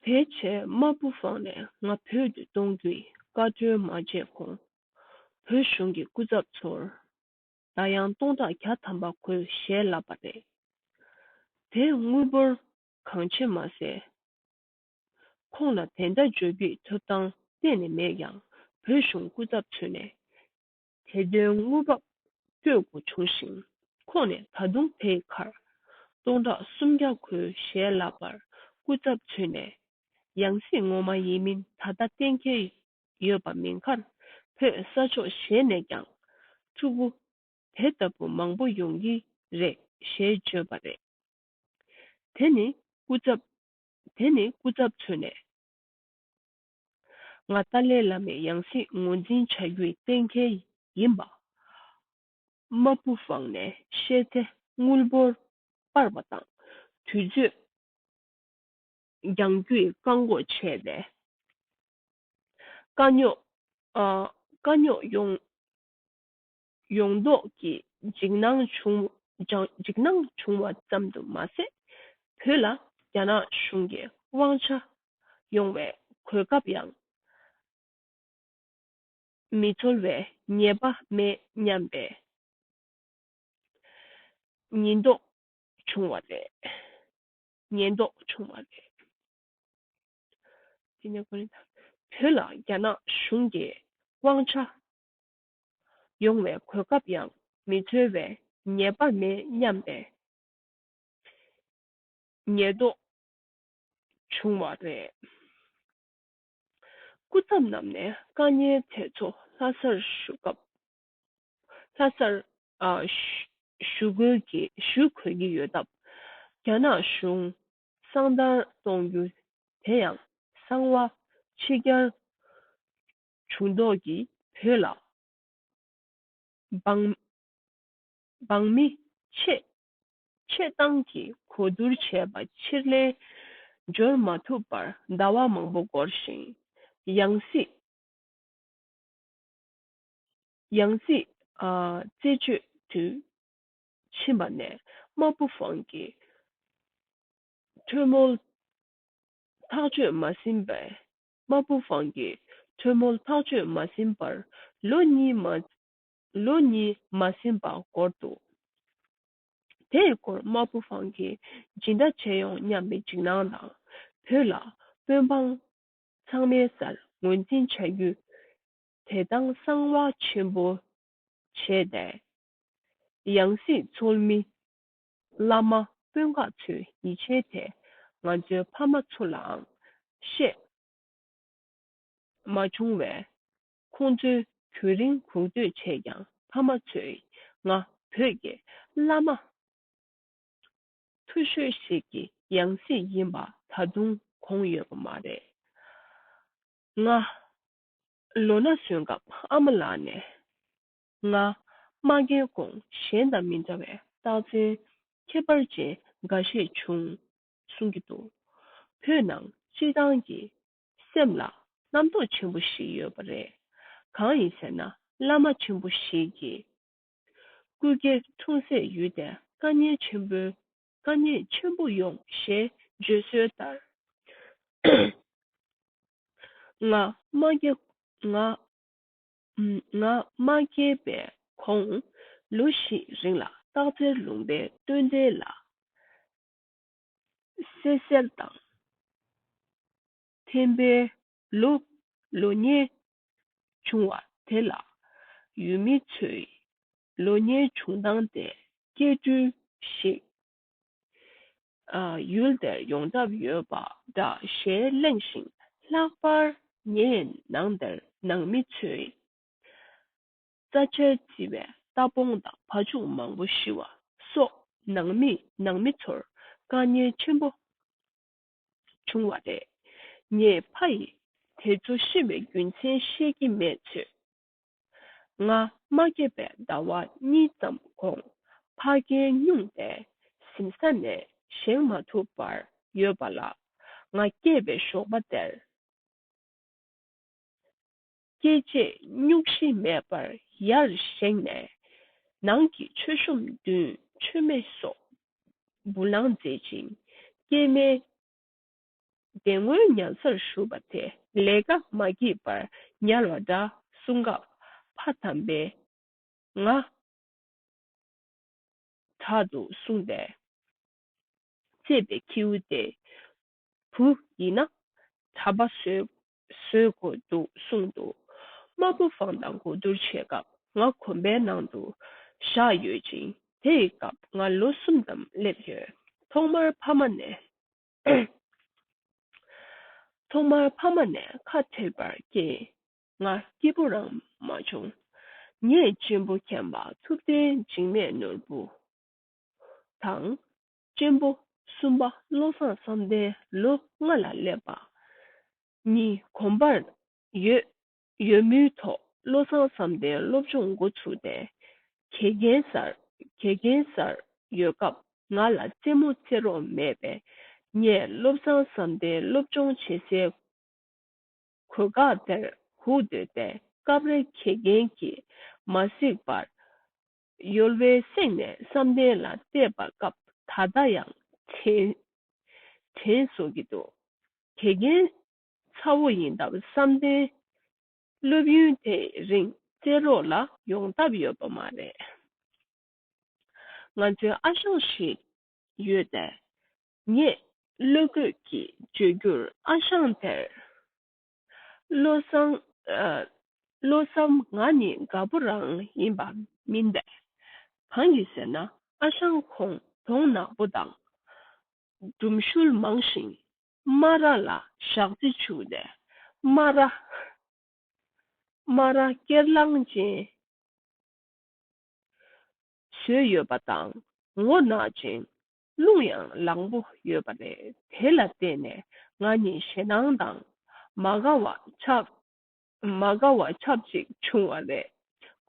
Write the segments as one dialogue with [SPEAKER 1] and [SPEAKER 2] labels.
[SPEAKER 1] བེད་སྤྱད་དམར་པོ་བང་ནས་ང་བོད་དུ་གཏོང་རྒྱུའི་བཀའ་འཁྲོལ་མ་བྱས་གོང་བོད་གཞུང་གི་སྐུ་ཚབ་ཚོར་ཟླ་ཡང་སྟོང་ཕྲག་གྱ་ཐམ་པ་གོས་ཞལ་ལབ་པ་རེད། དེ་དངུལ་འབོར་གང་ཆེ་མ་ཟད། ཁོང་ལ་དེ་འདྲ་བརྗོད་རྒྱུའི་ཐོབ་ཐང་གཏན་ནས་མེད་ཀྱང་བོད་གཞུང་སྐུ་ཚབ་ཚུད་ནས་དེ་དོན་དངོས་བབ་སྤྱོད་སྒོ་བྱུང་ཞིང་ཁོང་ནས་ད་དུང་དེའི་ཁར་སྟོང་ཕྲག་སུམ་བརྒྱ་ཁོའི་ཞལ་ལག་པར་སྐུ་ཚབ་མཚོན་ནས་ཡང་སྲིད་ངོ་མ་ཡིན་མིན་ད་ལྟ་གཏན་འཁེལ་ཡོད་པ་མིན་ཁར་བོད་ས་ཕྱོགས་གཞན་ནས་ཀྱང་ཕྲུ་གུ་དེ་ལྟ་བུ་མང་པོ་ཡོང་གི་རེད་ཞེས་བརྗོད་པ་རེད། དེ་ནི་སྐུ་ཚབ་དེ་ནི་སྐུ་ཚབ་མཚོན་ནས། ང་ཏཱ་ལའི་བླ་མའི་ཡང་སྲིད་ངོས་འཛིན་བྱ་རྒྱུའི་གཏན་འཁེལ་ཡིན་པ། མ་བུ་བང་ནས་བཤད་ཚེ་དངུལ་འབོར་སྤར་བ་དང་དུས་ཚོད་འགྱངས་རྒྱུའི་བཀག་འགོག་བྱས་ཏེ། དཀའ་རྙོག་ཡོང་ཡོངས་རྫོགས་ཀྱི་འཇིགས་སྣང་བྱུང་བ་ཙམ་དུ་མ་ཟད། བོད་ལ་རྒྱ་ནག་གཞུང་གི་དབང་ཆ་ཡོང་བའི་གོ་སྐབས་ཡང་མི་འཐོལ་བའི་ངེས་པ་མེད་སྙམ་པའི་ཉེན་རྟོག་བྱུང་བ་རེད། བོད་ལ་རྒྱ་ནག་གཞུང་གི་དབང་ཆ་ཡོང་བའི་གོ་སྐབས་ཡང་མི་འཚོལ་བས་ཉེས་པ་མེད་སྙམ་པའི་ངེས་རྟོགས་བྱུང་བ་རེད། སྐུ་ཚབ་རྣམས་ནས་བཀའ་ཉན་དེ་ཚོ་ལྷ་སར་བཞུགས་སྐབས་ལྷ་སར་བཞུགས་དགོས་ཀྱི་བཞུགས་དགོས་ཀྱི་ཡོད་སྟབས་རྒྱ་ནག་གཞུང་གསང་བརྡར་གཏོང་རྒྱུ་དེ་ཡང་གསང་བ་ཕྱི་རྒྱར་བྱུང་དོགས་ཀྱིས་བོས་ལ། འབངས་མི་ཆེད་བཏང་གིས་གོ་བསྡུར་བྱས་པ་ཕྱིར་ལན་འབྱོར་མ་ཐུབ་པར་ཟླ་བ་མང་པོ་འགོར་ཞིང། ཡང་སྲིད་རྩད་གཅོད་དུ་ཕྱིན་པ་ནས་དམར་པོ་བང་གི་གྲོས་མོལ་ཐག་གཅོད་མ་ཟིན་པའི་དམར་པོ་བང་གི་ཁྲོ་མོ་ལྷག་སྤྱོད་མ་ཟིན་པར་ལོ་གཉིས་མ་ལོ་གཉིས་མ་ཟིན་པ་བསྐོར་འདུག་དེས་བསྐོར་དམར་པོ་བང་གི་སྦྱིན་བདག་བྱས་ཡོང་སྙམ་པའི་འཇིགས་སྣང་དང་བོད་ལ་དཔོན་འབངས་ཚང་མའི་སར་ངོས་འཛིན་བྱ་རྒྱུ་དེ་དང་གསང་བ་ཆེན་པོ་བྱས་ཏེ། ཡང་སྲིད་འཚོལ་མི་བླ་མ་སྤུན་ངག་ཚོས་ཡིད་ཆེས་དེ་ང་ཚོའི་ཕ་མ་ཚོ་ལའང་ཤེས། མ་བྱུང་བས། ཁོང་ཚོའི་དུས་རིང་གུག་སྡོད་བྱས་ཀྱང་ཕ་མ་ཚོས་ང་བོད་ཀྱི་བླ་མ་མཐུ་ཤོས་ཤིག་གི་ཡང་སྲིད་ཡིན་པ་ད་དུང་གོང་ཡོད་པ་མ་རེད། ང་ལོ་ན་སོན་སྐབས་ཨ་མ་ལགས་ནས་ལྔ། སྨྲ་མཁན་གོང་གཞན་དང་མི་འདྲ་བའི་རྟགས་མཚན་ཁྱད་པར་ཅན་འགའ་ཤས་བྱུང། གསུང་གི་འདུག་བོད་ནང་སྤྱི་བཏང་གི་སེམས་ལ་རྣམ་རྟོག་ཆེན་པོ་ཞིག་ཡོད་པ་རེད། གང་ཡིན་ཟེར་ན་བླ་མ་ཆེན་པོ་ཞིག་གིས་སྐུ་སྐྱེ་འཁྲུངས་སའི་ཡུལ་དེ་བཀའ་ཉན་ཆེན་པོའི་བཀའ་ཉན་ཆེན་པོ་ཡོང་ཞེས་བརྗོད་སྲོལ་ལྟར། ལྔ། སྨྲ་མཁན་ལྔ། ང་མ་སྐྱེས་པའི་གོང། ལོ་བཞི་རིང་ལ་སྟག་རྩེར་ལུང་པའི་སྟོན་ཟླའི་ལ་གསེར་གསལ་དང། ཐེམ་པའི་ལོ་ལོ་ཉེ་བྱུང་བ་དེ་ལ་ཡུལ་མི་ཚོས་ལོ་ཉེ་བྱུང་བཏང་སྟེ་སྐྱེ་སྤྲུལ་ཞིག་ཡུལ་དེར་ཡོང་ཐབས་ཡོད་པ་འདྲ་ཞེས་གླེང་ཞིང་ལྷག་པར་ངས་ནང་དེར་ནང་མི་ཚོའི་རྩ་ཆལ་བརྩི་བའི་རྟ་སྤོང་དང་བ་ཕྱུགས་མང་པོ་ཤི་བ་སོགས་ནང་མིས་ནང་མི་ཚོར་དཀའ་ཉེན་ཆེན་པོ་བྱུང་བ་རེད། ངས་ཕ་ཡིས་དེ་ཚོ་ཤི་བའི་རྒྱུ་མཚན་ཤེས་ཀྱི་མེད་ཚོད་ང་མ་སྐྱེས་པའི་ཟླ་བ་གཉིས་ཙམ་གོང་ཕ་རྒན་སྨྱུང་པས་གཟིམ་ས་ནས་བཞེངས་མ་ཐུབ་པར་ཡོད་པ་ལ། ང་སྐྱེས་པའི་ཞོགས་པ་དེར་སྐྱེས་རྗེས་གཉུག་གཤིས་མེད་པར་ཡར་བཞེངས་ནས་ནང་གི་མཆོད་གཤོམ་བདུན་མཆོད་མེ་སོགས་འབུལ་ལང་མཛད་ཅིང་སྐྱེས་མའི་བདེ་སྔོན་མྱང་སར་བཞུགས་པ་དེ་ལས་ཀ་མ་བགྱིས་པར་ཉལ་བ་འདྲ་གསུངས་སྐབས་ཕ་དམ་པས། ང། དྲག་ཏུ་གསུངས་པས། གཅེས་པའི་ཁྱེའུ་དེ། བུ་ཡིན་ན། གྲྭ་པ་བཟོས་དགོས་འདུག་གསུངས་འདུག་དམར་པོ་བང་དང་གོ་བསྡུར་བྱེད་སྐབས་ང་གོམ་པའི་ནང་དུ་བཞག་ཡོད་ཅིང་དེ་ཡི་སྐབས་ང་ལོ་གསུམ་ཙམ་སླེབས་ཡོད། ཐོག་མར་ཕ་མ་ནས་ཐོག་མར་ཕ་མ་ནས་ཁ་བྲལ་བར་སྐྱེས། ང་སྐྱིད་པོ་རང་མ་བྱུང། ངས་གཅེན་པོ་མཁྱེན་པ་ཐུབ་བསྟན་འཇིགས་མེད་ནོར་བུ་དང། གཅེན་པོ་གསུམ་པ་བློ་བཟང་བསམ་གཏན་ལོ་ལྔ་ལ་སླེབས་པ་གཉིས་གོམས་པར་ཡོད། ཡོད་མུས་ཐོག་བློ་བཟང་བསམ་གཏན་སློབ་སྦྱོང་མགོ་ཚུགས་ཏེ་དགེ་རྒན་སར་དགེ་རྒན་སར་ཡོད་སྐབས་ང་ལ་རྩེད་མོ་རྩེད་རོགས་མེད་པས་ངས་བློ་བཟང་བསམ་གཏན་སློབ་སྦྱོང་བྱེད་སའི་གོས་འགག་དེར་ཧུག་འདོད་པས་སྐབས་རེ་དགེ་རྒན་གྱིས་མ་གཟིགས་པར་ཡོལ་བའི་གསེང་ནས་བསམ་གཏན་ལ་བལྟས་པ་སྐབས་ད་ལྟ་ཡང་དྲན་བཟོ་གི་འདུག་དགེ་རྒན་ཚ་བོ་ཡིན་སྟབས་བསམ་གཏན་སློབ་ཡུན་དེ་རིང་བཙལ་རོགས་ལ་ཡོང་ཐབས་ཡོད་པ་མ་རེད། ང་ཚོའི་ཨ་ཞང་ཞིག་ཡོད་དེ། ངས་བློ་རྒོད་ཀྱིས་བརྗོད་རྒྱུར་ཨ་ཞང་དེར། བློ་བཟང། བློ་བཟང་ང་ནི་དགའ་པོ་རང་ཡིན་པ་མིན་པས། གང་གིས་ཟེར་ན་ཨ་ཞང་ཁོང་གདོང་ནག་པོ་དང། སྒྲུམ་ཤུལ་མང་ཞིང་སྨ་ར་ལ་ཞག་རྩི་བྱུགས་ནས་སྨ་ར། སྨ་ར་སྐྱེར་ལང་ཅན། ཟོས་ཡོད་པ་དང་ངོ་ནག་ཅིང་རླུང་ཡང་ལང་པོ་ཡོད་པ་རེད་དེ་ལ་བརྟེན་ནས་ང་ནི་ཞེད་སྣང་དང་མ་དགའ་བ་ཆགས། མ་དགའ་བ་ཆབས་ཅིག་བྱུང་བ་རེད།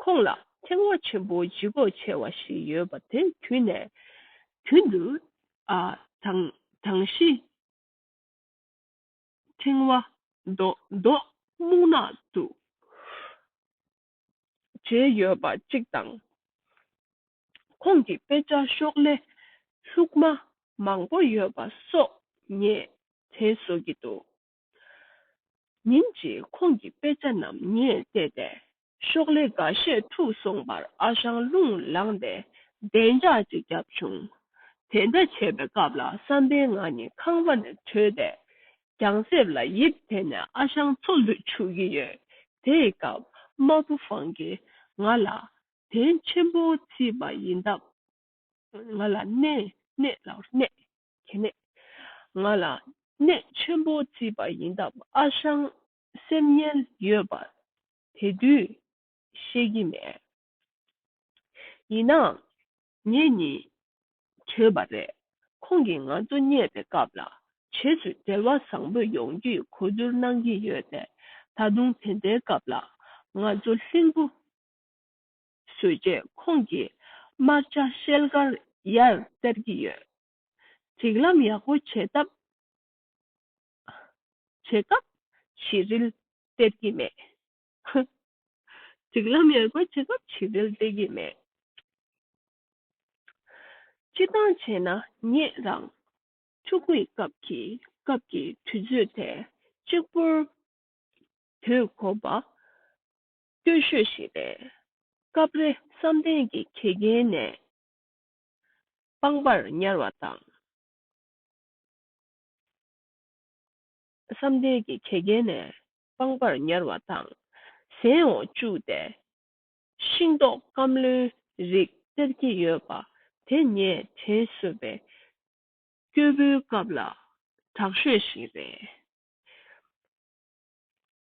[SPEAKER 1] ཁོང་ལ་ཐེག་བ་ཆེན་པོ་ལྗིད་དགོས་ཆེ་བ་ཞིག་ཡོད་པ་དེ་དུས་ནས་དུས་འདིར་དང། གྲངས་གཞི། ཕྲེང་བ། མདོག་སྨུག་ནག་ཏུ་བརྗེས་ཡོད་པ་གཅིག་དང། ཁོང་གི་དཔེ་ཆ་ཤོག་ལྷེ་ལྷུག་མ་མང་པོ་ཡོད་པ་སོགས་ངས་དྲན་བཟོ་གི་འདུག། ཉིན་གཅིག་ཁོང་གི་དཔེ་ཆ་རྣམས་ངས་བལྟས་ཏེ། ཤོག་ལྷེ་འགའ་ཤས་འཁྲུགས་སོང་བར་ཨ་ཞང་རླུང་ལངས་ཏེ་བདེ་འཇགས་ཅིག་བརྒྱབ་བྱུང། དེ་འདྲ་བྱེད་པའི་སྐབས་ལ་བསམ་པའི་ང་ནི་ཁང་པ་ནས་བྲོས་ཏེ། གྱང་གསེབ་ལ་ཡིབ་དེ་ནས་ཨ་ཞང་འཚོ་ལུད་བྱུགས་ཀྱི་ཡོད། དེའི་སྐབས་མ་བུ་ཧྥང་གིས་ང་ལ། དེང་ཆེན་པོ་བརྩིས་པ་ཡིན་སྟབས། ང་ལ་གནས། གནས། གྱི་ནད། ང་ལ་ནད་ཆེན་པོ་བརྩིས་པ་ཡིན་སྟབས་ཨ་ཞང་སེམས་ངལ་ཡོད་པ་དེ་དུས་ཤེས་ཀྱི་མེད། ཡིན་ནའང་ངེད་གཉིས་བྲོས་པ་རེད། ཁོང་གིས་ང་ཚོ་རྙེད་པའི་སྐབས་ལ་བྱེས་སུ་འབྲེལ་བ་བཟང་པོ་ཡོང་རྒྱུའི་གོ་བསྡུར་གནང་གི་ཡོད་པས་ད་དུང་དེ་འདྲའི་སྐབས་ལ་ང་ཚོ་ལྷིང་པོ་བཟོས་རྗེས་ཁོང་གིས་དམར་འབྱར་ཤེལ་དཀར་ཡར་སྟེར་གྱི་ཡོད། སྒྲིག་ལམ་ཡག་པོ་བྱེད་སྟབས། བྱེད་སྐབས་བྱི་རིལ་སྟེར་གྱི་མེད། ཧཧཧཧ། སྒྲིག་ལམ་ཡག་པོ་བྱེད་སྐབས་བྱི་རིལ་སྟེར་གྱི་མེད། སྤྱི་བཏང་བྱས་ན་ཉེས་རང། ཕྲུ་གུའི་སྐབས་ཀྱི་སྐབས་ཀྱི་དུས་ཚོད་དེ་གཅིག་པུར་དུས་འཁོར་བ། སྟོད་ཤོད་ཞིག་རེད། སྐབས་རེ་བསམ་གཏན་གྱི་གེགས་རྐྱེན་ནས་སྤང་བར་ཉར་བ་དང། བསམ་གཏན་གྱི་གེགས་རྐྱེན་ནས་སྤང་བར་ཉར་བ་དང། ཟན་འོག་བཅུག་སྟེ་ཤིང་ཏོག་སྐམ་རློན་རིགས་སྟེར་གྱི་ཡོད་པ་དེ་ངས་དྲན་གསོས་པའི་སྐྱོ་བོའི་སྐབས་ལ་དྲག་ཤོས་ཤིག་རེད།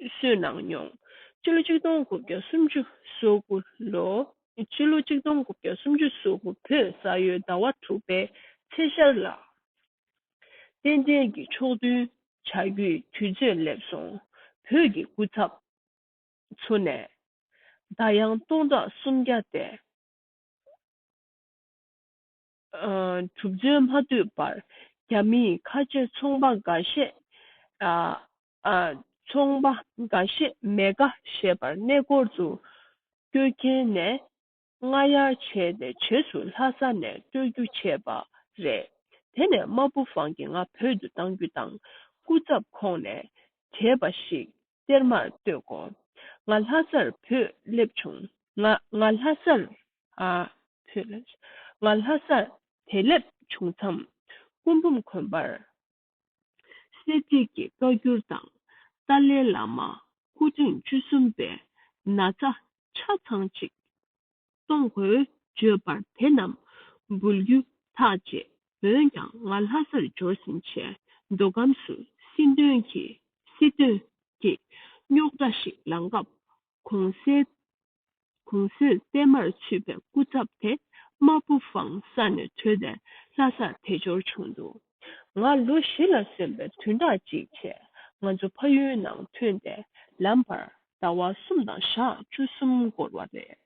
[SPEAKER 1] གསོས་གནང་མྱོང། སྤྱི་ལོ་གཅིག་སྟོང་དགུ་བརྒྱ་སུམ་ཅུ་སོ་དགུ་ལོ། སྤྱི་ལོ་གཅིག་སྟོང་དགུ་བརྒྱ་སུམ་ཅུ་སོ་དགུ་བོད་ས་ཡོས་ཟླ་བ་དྲུག་པའི་ཚེས་ཤར་ལ། རྟེན་འབྲེལ་གྱི་ཕྱོགས་མཐུན་བྱ་རྒྱུའི་དུས་ཚོད་སླེབས་སོང། བོད་ཀྱི་སྐུ་ཚབ་ཚོ་ནས་བརྡ་དབྱངས་སྟོང་ཕྲག་སུམ་བརྒྱ་སྟེ། གྲུབ་རྫུན་མ་བསྡུས་པར་རྒྱ་མིའི་ཁ་ཆེ་ཚོང་པ་འགའ་ཤས། ཚོང་པ་འགའ་ཤས་མེ་དགའ་ཞེས་པར་གནས་སྐོར་དུ་སྐྱོད་མཁན་ནས་རྔ་གཡར་བྱས་ནས་བྱེས་སུ་ལྷ་ས་ནས་སྤྲོད་རྒྱུ་བྱས་པ་རེད། དེ་ནས་རྨ་ཕུ་བང་གི་ང་བོད་དུ་བཏང་རྒྱུ་དང་སྐུ་ཚབ་ཁོང་ནས་བྱས་པ་ཞིག་གཏེར་མར་བཏོད་གོ། ང་ལྷ་སར་བུད་སླེབས་བྱུང། ང་ལྷ་སར་བུད་སླེབས་བྱུང། ང་ལྷ་སར་བུད་སླེབས་བྱུང་མཚམས་སྐུ་འབུམ་དགོན་པར་གསལ་བྱེད་ཀྱི་བཀའ་འགྱུར་དང། ཏཱ་ལའི་བླ་མ་སྐུ་ཕྲེང་བཅུ་གསུམ་པའི་ན་ཚ་ཆ་ཚང་ཅིག་གཏོང་དགོས་བརྗོད་པར་དེ་རྣམས་འབུལ་རྒྱུ་ཐག་བཅད། འོན་ཀྱང་ང་ལྷ་སར་འབྱོར་ཟིན་ཆད་མདོ་ཁམས་སུ་སྲིད་དོན་གྱི་སྲིད་དོན་གྱི་རྙོག་དྲ་ཞིག་ལངས་སྐབས་གོང་གསལ་གོང་གསལ་པད་མར་ཚུད་པའི་སྐུ་ཚབ་དེ་རྨ་ཕུ་བང་ས་ནས་བྲོས་ཏེ་ལྷ་སར་དལ་འབྱོར་བྱུང་འདུག་ང་ལོ་བཞི་ལ་སོན་པའི་དུས་འདའ་ཅིག་བྱས་ང་ཚོ་ཕ་ཡུལ་ནང་ཐོན་ཏེ་ལམ་བར་ཟླ་བ་གསུམ་དང་ཞག་བཅུ་གསུམ་འགོར་བ་རེད།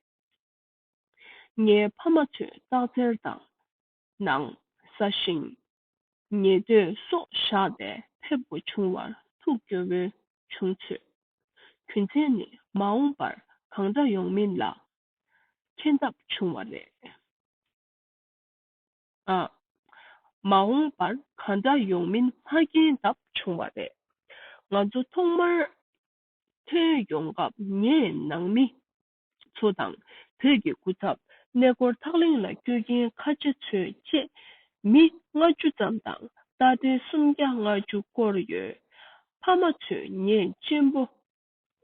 [SPEAKER 1] ངའི་ཕ་མ་ཚོས་སྟག་འཚེར་དང། ནང་ཟ་ཞིང། ཉེས་འདོད་སོགས་བཞག་པས་ཕེབས་སྒོ་ཆུང་བར་ཐུགས་སྐྱོ་བོ་བྱུང་ཚོད། གུན་ཚན་ནི་མ་འོངས་པར་གང་འདྲ་ཡོང་མིན་ལ་མཁྱེན་ཐབས་བྱུང་བ་རེད། མ་འོངས་པར་གང་འདྲ་ཡོང་མིན་མ་མཁྱེན་ཐབས་བྱུང་བ་རེད། ང་ཚོ་ཐོག་མར་ཐོན་ཡོང་སྐབས་ངས་ནང་མི་ཚོ་དང་བོད་ཀྱི་སྐུ་ཚབ་གནས་སྐོར་ཐག་ལེན་ལ་སྐྱོད་མཁན་ཁ་ཆེ་ཚོའི་བཅས་མི་ལྔ་བཅུ་ཙམ་དང་རྟ་དྲེལ་སུམ་བརྒྱ་ལྔ་བཅུ་བསྐོར་ཡོད། ཕ་མ་ཚོས་ངེད་གཅེན་པོ་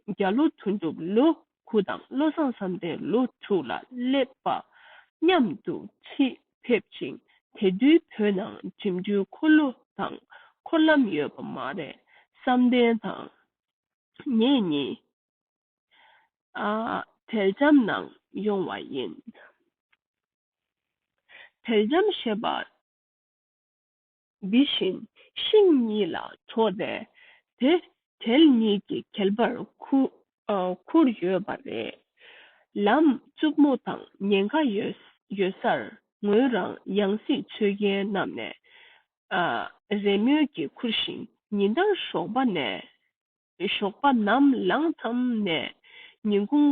[SPEAKER 1] བརྒྱ་ལོ་དོན་གྲུབ་ལོ་དགུ་དང་བློ་བཟང་བསམ་གཏན་ལོ་དྲུག་ལ་སླེབས་པ་མཉམ་དུ་ཆིད་ཕེབས་ཅིང་དེ་དུས་བོད་ནང་འགྲིམ་འགྲུལ་འཁོར་ལོ་དང་འཁོར་ལམ་ཡོད་པ་མ་རེད་བསམ་གཏན་དང་ངེད་གཉིས། དལ་འཇམ་ནང་ཡོང་བ་ཡིན། དལ་འཇམ་ཞེས་པ། འདི་བཞིན་ཤིང་གཉིས་ལ་གྲོགས་ཏེ། དེ་དལ་གཉིས་ཀྱི་གྱེལ་བར་ཁུར་ཡོད་པ་རེད། ལམ་རྩུབ་མོ་དང་ཉེན་ཁ་ཡོད་སར་ངོས་རང་ཡང་སྲིད་འཚོལ་མཁན་རྣམས་ནས་རེས་མོས་ཀྱིས་ཁུར་ཞིང་ཉིན་ལྟར་ཞོགས་པ་ནས་ཞོགས་པ་ནམ་ལངས་མཚམས་ནས་ཉིན་གུང་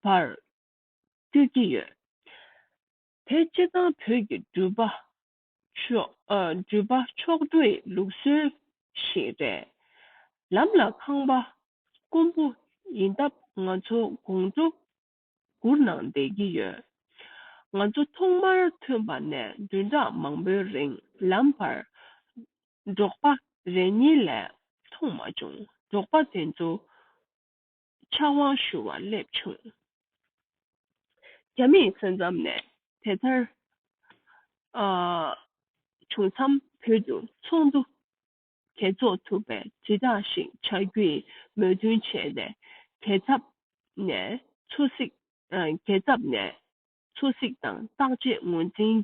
[SPEAKER 1] བར་སྐྱོད་ཀྱི་ཡོད། དེ་སྤྱི་བཏང་བོད་ཀྱི་འགྲུལ་པ་ཕྱོགས་བསྡུས་ལུགས་སྲོལ་ཞིག་རེད། ལམ་ལ་ཁང་པ་དཀོན་པོ་ཡིན་སྟབས་ང་ཚོ་དགོང་དྲོ་བསྒུར་གནང་བསྡད་ཀྱི་ཡོད། ང་ཚོ་ཐོག་མར་ཐོན་པ་ནས་བདུན་ཕྲག་མང་པོའི་རིང་ལམ་བར། འབྲོག་པ་རེ་གཉིས་ལས་མཐོང་མ་བྱུང་འབྲོག་པ་དེ་ཚོ་ཕྱག་དབང་ཞུ་བར་སླེབས་བྱུང། རྒྱ་མིའི་སེམས་ཙམ་ནས་དེ་ལྟར་བྱུང་མཚམས་བོད་དུ་ཚོགས་འདུ་གྲོས་ཚོགས་ཐུབ་པའི་དྲིལ་བསྒྲགས་ཤིག་བྱ་རྒྱུའི་མོས་མཐུན་བྱས་ནས་རྒྱལ་ཚབ་ནས་ཚོ་གཟིགས་རྒྱལ་ཚབ་ནས་ཚོ་གཟིགས་དང་བརྟག་དཔྱད་ངོས་འཛིན།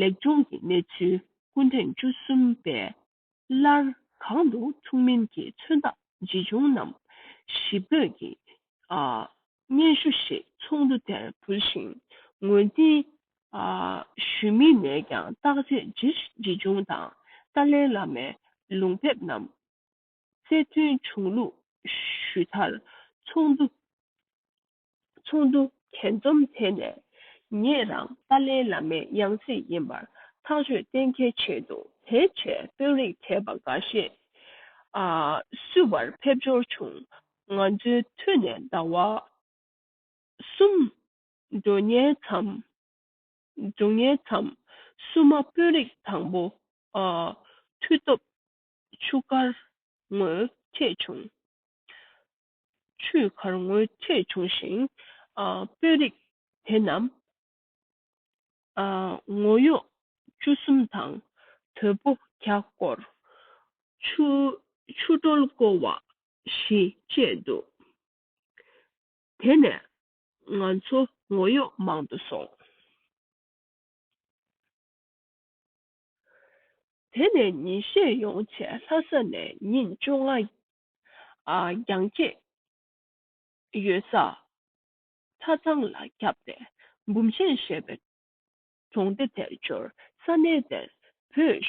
[SPEAKER 1] ལེགས་སྦྱོང་གི་གནས་ཚུལ་སྐུ་ཐེངས་བཅུ་གསུམ་པའིསླར་གང་དུ་ཐུག་མིན་གྱི་མཚོན་རྟགས་ཇི་བྱུང་རྣམས་ཞིབ་འོད་ཀྱིས་སྙན་ཞུ་ཞིག་ཚོགས་འདུ་དེར་ཕུལ་ཞིང་ངོས་འཛིན་ཞུས་མིན་ནས་ཀྱང་བརྟག་དཔྱད་ཇི་བྱུང་དང་ཏཱ་ལའི་བླ་མའི་ལུང་དེབ་རྣམས་གསལ་སྟོན་བྱུང་ལུགས་ཞུས་མཐར་ཚོགས་འདུ་གས་འཛོམས་དེ་ནས་ངེད་རང་ཏཱ་ལའི་བླ་མའི་ཡང་སྲིད་ཡིན་པར་ཐག་གཅོད་གཏན་འཁེལ་བྱས་འདུག་དེ་རྗེས་དཔོན་རིགས་དད་པ་འགའ་ཤས་བསུ་བར་ཕེབས་འབྱོར་བྱུང་ང་ཚོའི་མཐུ་ནས་འདའ་བ། གསུམ། འགྲོ་ཉལ་མཚམས། འགྲོ་ཉལ་མཚམས་གསུམ་མ་དཔོན་རིགས་དང་པོ། མཐུ་སྟོབས། ཆུ་དཀར། ངོས་ཐེག་བྱུང། ཆུ་དཀར་ངོས་ཐེག་བྱུང་ཞིང། དཔོན་རིགས་དེ་རྣམས། ངོ་གཡོག་བཅུ་གསུམ་དང་དོལ་པོ་བརྒྱ་སྐོར། ཆུ། ཆུ་སྒྲོལ་སྐོར་བ། ཞེས་བཤད་འདུག་དེ་ནས་ང་ཚོ་ངོ་གཡོག་མང་དུ་སོང། དེ་ནས་ཉིན་ཤས་ཡོང་ཚེ་ལྷ་ས་ནས་ཉིན་བཅོ་ལྔ་རྒྱང་སྐྱེད་ཡོད་ས་ཚ་ཚང་ལ་བརྒྱབ་ནས་འབུམ་ཆེན་ཞེས་པའི་གྲོང་སྡེ་དེར་འབྱོར་ས་གནས་དེར་བོད་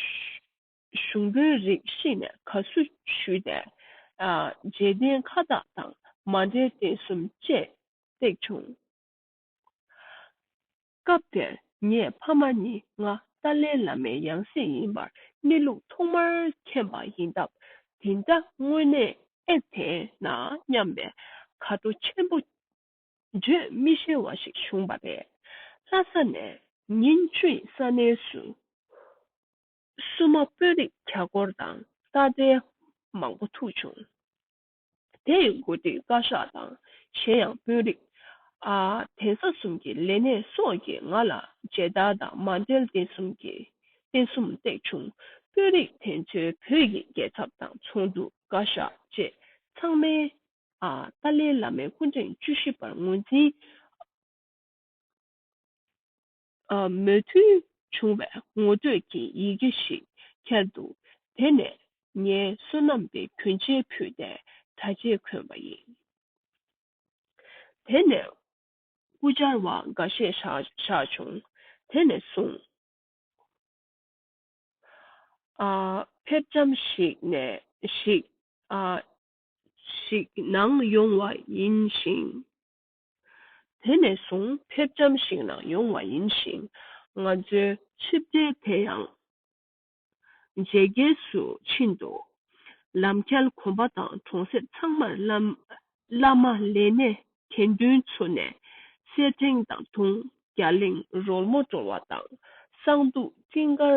[SPEAKER 1] ཞུགས་འབོད་རིགས་ཤེས་ནས་ག་སུ་ཞུས་ཏེ། རྗེས་བསྟན་ཁ་བཏགས་དང་མ་འབྲེལ་བསྟན་གསུམ་བཅས་བཏེགས་བྱུང། སྐབས་དེར་ངས་ཕ་མ་ནི་ང་ཏཱ་ལའི་བླ་མའི་ཡང་སྲིད་ཡིན་པར་གནས་ལུགས་ཐོག་མར་མཁྱེན་པ་ཡིན་སྟབས་དེ་འདྲ་དངོས་གནས་ཨེ་དེ་ན་སྙམ་པའི་དགའ་སྤྲོ་ཆེན་པོ་བརྗོད་མི་ཤེས་བ་ཞིག་བྱུང་བ་རེད། ལྷ་ས་ནས་ཉིན་བཅུའི་ས་གནས་སུ་སྲུ་མ་དཔོན་རིགས་གྱ་སྐོར་དང་ས་སྡེ་མང་པོ་ཐུག་བྱུང། དེ་ཡི་མགོ་ཁྲིད་བཀའ་ཤག་དང་གཞན་ཡང་དཔོན་རིགས། གདན་ས་གསུམ་གྱི་ལས་སྣེ་སོགས་ཀྱིས་ང་ལ་མཇལ་དར་དང་མ་མཇལ་གདན་གསུམ་གྱི་རྟེན་གསུམ་བཏེགས་བྱུང། དཔོན་རིགས་དེ་ཚོའི་བོད་ཀྱི་རྒྱལ་ཚབ་དང་ཚོགས་འདུ་བཀའ་ཤག་བཅས་ཚང་མས་ཏཱ་ལའི་བླ་མའི་སྐུ་ཕྲེང་བཅུ་བཞི་པར་ངོས་འཛིན། མོས་མཐུན་བྱུང་བའི་ངོ་སྤྲོད་ཀྱི་ཡི་གེ་ཞིག་ཁྱེར་འདུག་དེ་ནས་ངས་བསོད་ནམས་དེ་གྱོན་ཆས་ཕུད་དེ་ད་རྗེས་གོན་པ་ཡིན། དེ་ནས་སྐུ་བཅར་བ་འགའ་ཤས་བཞག་བྱུང། དེ་ནས་བཟུང། ཕེབས་བྱམས་ཤིག་ནང་ཡོང་བ་ཡིན་ཞིང། དེ་ནས་བཟུང་ཕེབས་ཇམ་ཞིག་ནང་ཡོང་བ་ཡིན་ཞིང། ང་ཚོའི་ཆིབས་སྒྲིལ་དེ་ཡང་ཇེ་རྒྱས་སུ་ཕྱིན་འདུག་ལམ་ཁྱལ་གོམ་པ་དང་གྲོང་གསེབ་ཚང་མར་བླ་མ་ལས་སྣེ་དགེ་འདུན་ཚུགས་ནས་སེར་ཕྲེང་དང་དུང་རྒྱ་གླིང་རོལ་མོ་བཀྲོལ་བ་དང་གསང་འདུག་སྤྲིན་དཀར་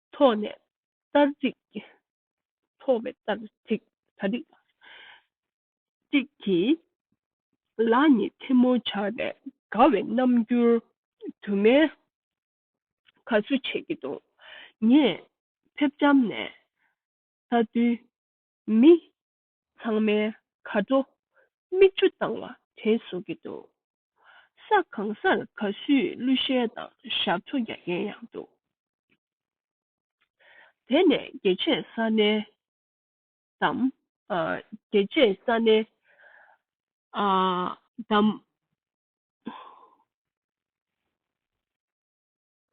[SPEAKER 1] ཐོག་ནས་ལྟར་གཅིག། ཐོག་བས་ལྟར་གཅིག་ད་རེས་གཅིག་གིས། ལག་གཉིས་ཐལ་མོ་སྦྱར་བས་དགའ་བའི་རྣམ་འགྱུར། དུ་མའི་ག་ཚོད་བྱས་ཀྱི་འདུག་ངས་ཕེབས་བྱམས་ནས། ད་དུས་མི་ཚང་མའི་ག་བྲོ་མིག་ཆུ་བཏང་བ་དྲན་བཟོ་གི་འདུག་ས་གང་སར་ག་སུས་གླུ་གཞས་དང་ཞབས་བྲོ་རྒྱག་མཁན་ཡང་འདུག་དེ་ནས་རྒྱལ་གཅེས་ས་གནས་དམ། རྒྱལ་གཅེས་ས་གནས་དམ།